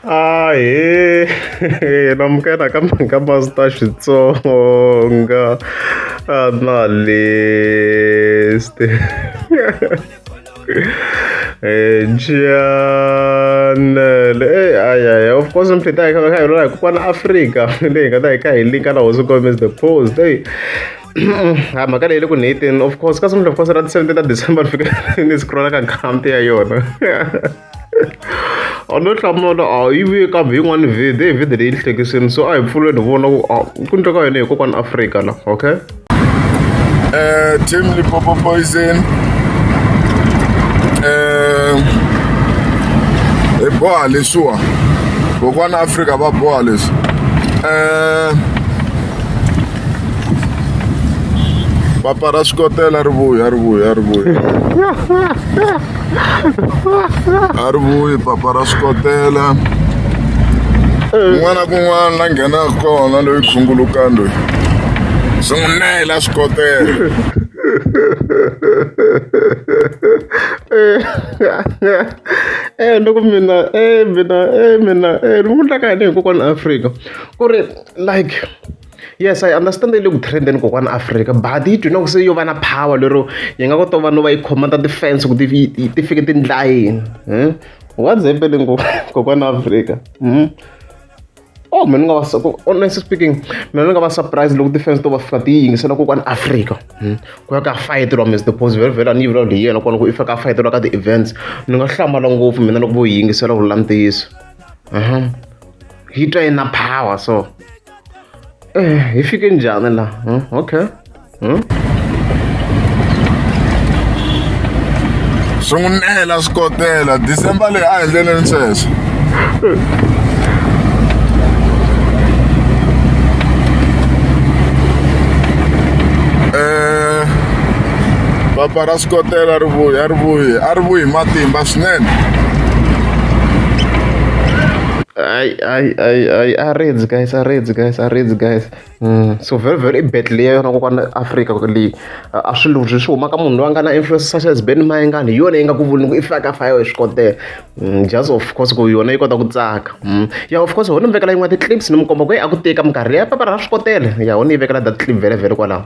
Ah, eh, eh, namukela ka ka Master Xitsonga. Ah, na leste. Eh, Janel. Eh, ay, ay, of course, I'm pretty. I can't remember. Like, one Africa. Like, I can't link. I was going to the post. Hey. ha mhaka leyi le ku ni of course ka sungula of course ra ti-seventeen ta december ni fika ni scrolla ka account ya yona a no hlamula a yi vuye kambe yin'wani vhidi hi vhidi leyi ni hlekisini so a hi pfuleni hi vona ku a ku ndleka yona hi kokwani afrika la okay Eh, team Lipopo Poison. Eh, hi boha leswiwa kokwana afrika va boha leswi Eh, papa ra swikotela ri vuya ri vuya ri vuya a ri vuyi papa ra swi kotela kun'wana na kun'wana la nghenaka kona loyi khungulukani loyi swi n'wi nela swi kotela eh loko mina eh mina eh mina eh ni n'wi endlaka yini hikokwani Afrika ku ri like Yes I understand yi le ku trend-eni kokwana Afrika but yi duma ku se yo va na power lero yi nga kota vanhu va yi khoma ta ti-fence ku ti ti fike ti endla yini what's happening kokwana Afrika oh mina ni nga va honestly speaking mina ni nga va surprise loko ti-fence to va fika ti yingisela kokwana Afrika ku ya ka fayeteriwa Miss Deposi vhele vhele a ni yi vulavula hi yena kona ku i fika a fayeteriwa ka ti-events ni nga hlamala ngopfu mina loko vo yi yingisela ku vula ntiyiso yi twa yi na power so. Eh, hi fike njhani la hmm? okay hmm? swi n'wi nela swi kotela december leyi a endleleni sweswo eh, papa ra swi kotela ri vuyi a ri vuyi a ri vuyi matimba swinene I, I, I arreds guys arreds guys arreds guys mm. so very very i battle leya yona kokwana africa leyi a swi luzwi swi huma ka munhu loyi a nga na influence such as ben mayengani hi yona yi nga ku vuli ku i faka fayo hi swi kotela mm, just of course ku yona yi kota ku tsaka mm. ya of course ho ni mi vekela yin'wana ti-clips ni mi komba ku yi a ku teka minkarhi leyi ya papara ra swi kotela ya ho ni yi vekela that clip vhele vhele kwalaho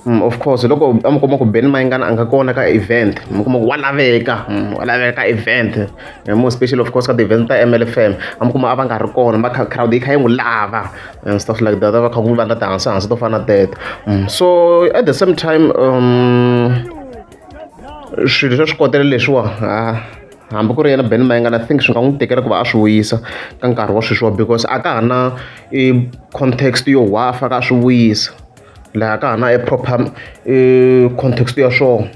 Mm, of course loko a mi kuma ku beni mayingana a nga kona ka event mi kuma ku wa laveka mm, wa laveka ka event eh, more special of course ka ti-event ta mlfm a mi kuma a va nga ri kona ma crowd yi kha yi n'wi lava and eh, stuff like that a va kha ku va nga tihansi hansi to fana teto mm, so at the same time um swilo swa swi kotela leswiwa hambi ku ri yena ben mayengana think swi nga n'wi tekela ku va a swi wuyisa ka nkarhi wa sweswiwa because a ka ha na i context yo hwafa ka a swi wuyisa laha ka hana e proper e context ya swona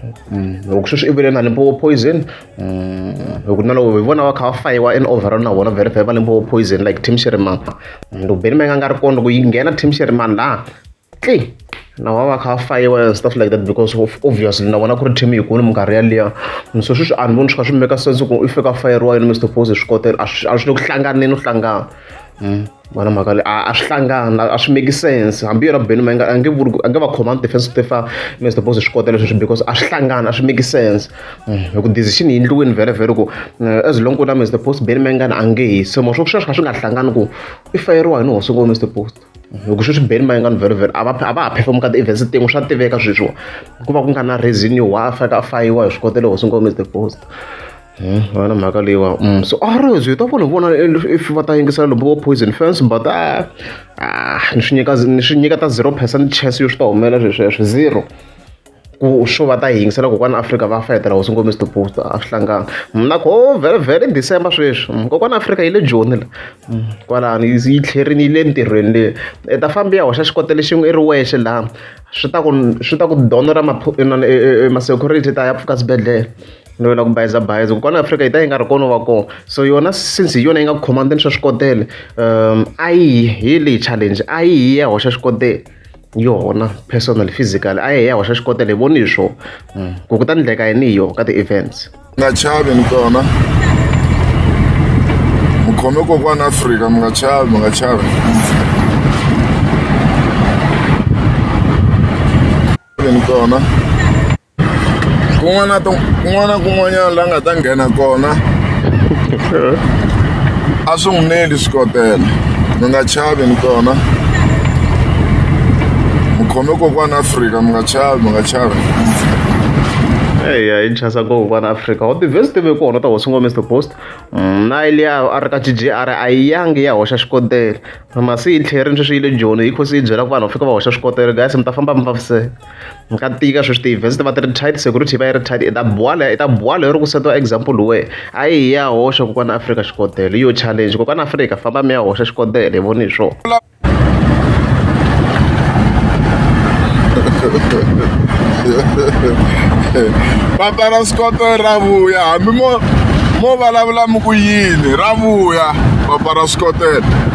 loko sweswi i vele na limpopo poison loko na loko hi vona va kha va fayiwa in overall na vona vele vele va limpopo poison like team sheriman loko beni ma nga nga ri kona loko yi nghena team sheriman laha tli na va va kha va fayiwa and stuff like that because of obviously na vona ku ri team yikulu minkarhi yaliya so sweswi a ni voni swi kha swi meka sense ku i fika fayeriwa yini mr pose swi kotela a swi le ku hlanganeni u hlangana vana mhaka leyi a a swi hlangana a swi make sense hambi yona beni ma nga a nge vuri a nge va khoma defense to fa mr boss swi kota leswi because a swi hlangana a swi make sense hmm, hi ku decision yi endliweni vhele vhele ku eh, as long ku na mr boss beni ma nga a nge hi se mo swo sweswi kha swi nga hlangani ku i fayeriwa hi ni hosi ngo mr boss loko hmm, sweswi beni ma nga ni vhele vhele a va a va ha perform ka ti-events tin'we swa tiveka sweswiwa ku va ku nga na reason yo wa a faka a fayiwa hi swi kota le hosi ngo mr boss vana mhaka leyiwa mm, so a ri zwi ta vona vona if va ta yingisela lombo wa poison fence but a ah, ah, ni swi nyika ni swi nyika ta zero percent chance yo swi ta humelela swesweswo zero ku swo va ta yingisela kokwana afrika va fayetela hosi ngomisi tipost a swi hlanganga mna ko oh, vhele vhele december sweswi mm, kokwana afrika yi le joni la mm, kwalani yi tlherini yi le ntirhweni leyi i ta fambi ya hoxa xikotele xin'we i ri wexe laha swi ta ku swi ta ku donora e, e, e, masecurity ta ya pfuka swibedhlele no lava ku bayiza bayiza kwala Afrika yi ta yi nga ri kona va kona so yona since hi yona yi nga command-a ni swa swikotela a yi hi leyi challenge a yi hi ya hoxa xikotela yona personal physical a yi hi ya hoxa xikotela hi voni hi swo mm. ku ku ta ni ndleka yini hi yona ka ti-events nga chavi ni kona mukhome kokwana Afrika mi nga chavi mi nga chavi ni kona kun'wana na kun'wana na kun'wanyana la nga ta nghena kona a swi n'wi neli swikotela mi nga chavi ni kona mi khome kokwana afrika mi nga chavi mi nga chavi eya hi chasa ngopfu vana afrika wa tivhesi tive ku hona ta hosi ngo mr post mm, na liya a ri ka g g r a yi yangi ya hoxa xikotele masi yi tlherini sweswi yi le joni yi khosi yi byela ku vanhu va fika va hoxa swikotele gasi mi ta famba mi vaviseka mi nga tika sweswi ti-events ti va ti ri tight security yi va yi ri tight i ta buwala i ta buwala yo ri ku setiwa example we a yi hi ya hoxa kokwana afrika xikodelo yo challenge kokwana afrika famba mi ya hoxa xikodelo hi voni hi swona va tala swikotelo ra vuya hambi mo mo vulavula mi ku yini ra vuya va pfala swikotelo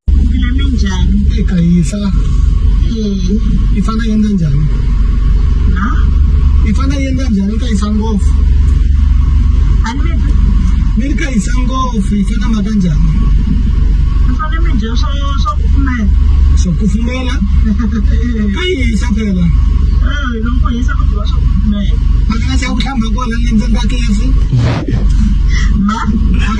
Ndzi njhani? Eka yisa. I fana yendla njhani? Na? I fana yendla njhani ka yisa ngopfu? A ni mi ri ka yisa ngopfu yi fana maka njhani? Mi fana mi dya swa swa kufumela. Swa kufumela? Ka yisa phela. Eh, loko yisa ku dyiwa swa kufumela. Maka na xa ku hlamba kona le ndzeni ka kefu? Ma?